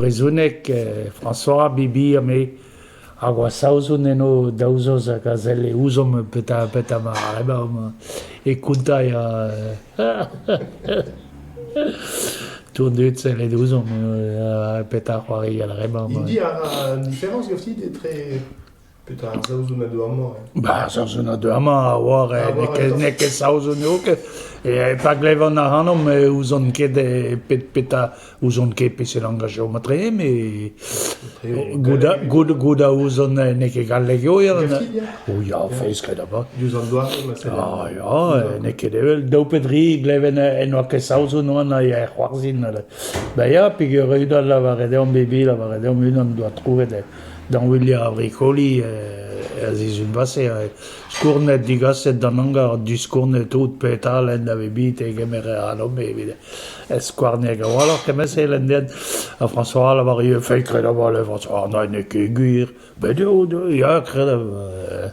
Brezhoneg, François Bibir-me hag oa Saozon eno daou zoz hag a sell e ouzomp petra petra ma e konta e a tourn dud sellet ouzomp petra c'hoari ar re-mañ. Hini a ra différence, Yossi, d'etre... Petra ar Saozon a deu amañ eo? Ba, Saozon a deu amañ a oar, eh, n'eo ket, n'eo ket Saozon eo ket, eh, pa glevan ac'hanomp eh ouzon ket eh pet petra, ouzon ket peseurt langaj eo matre, mais gouda, gouda, gouda ouzon eh, n'eo ket galleg eo, ya, o ya, feiz ket avat. Diouzh an doare, ma sell. Ah, ya, eh, n'eo ket evel daou pe dri gleven eh, en oa ket Saozon oan a ya c'hoarzin, ba ya, peger eu da lavaret deomp, bebi, lavaret deomp unan doa trouvet eh, Dañvilha ar vrikoli er sizhun passe a vez skournet, digaset d'an hangar, disskournet tout petra lenn a vez bet e kemer alamp evit skouarneg a-walc'h kement-se lenn den. Ha François a lavar ivez feiz kred a-walc'h, François, n'en eo ket gwir, bet eo, ya, kred a...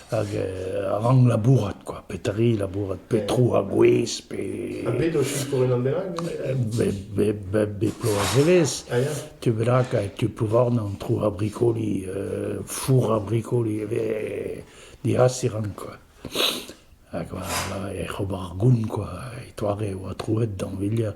Hag rank labourat, quoi. Petri labourat, petro a bouez, pe... Ha bet o sikour unan bennak? Be plo a zelez. Tu bennak, tu pouvarn an tro a brikoli, four a brikoli, diasiran, quoi. Hag voilà, e c'hobar goun, quoi. E toare e oa trouet d'an villia.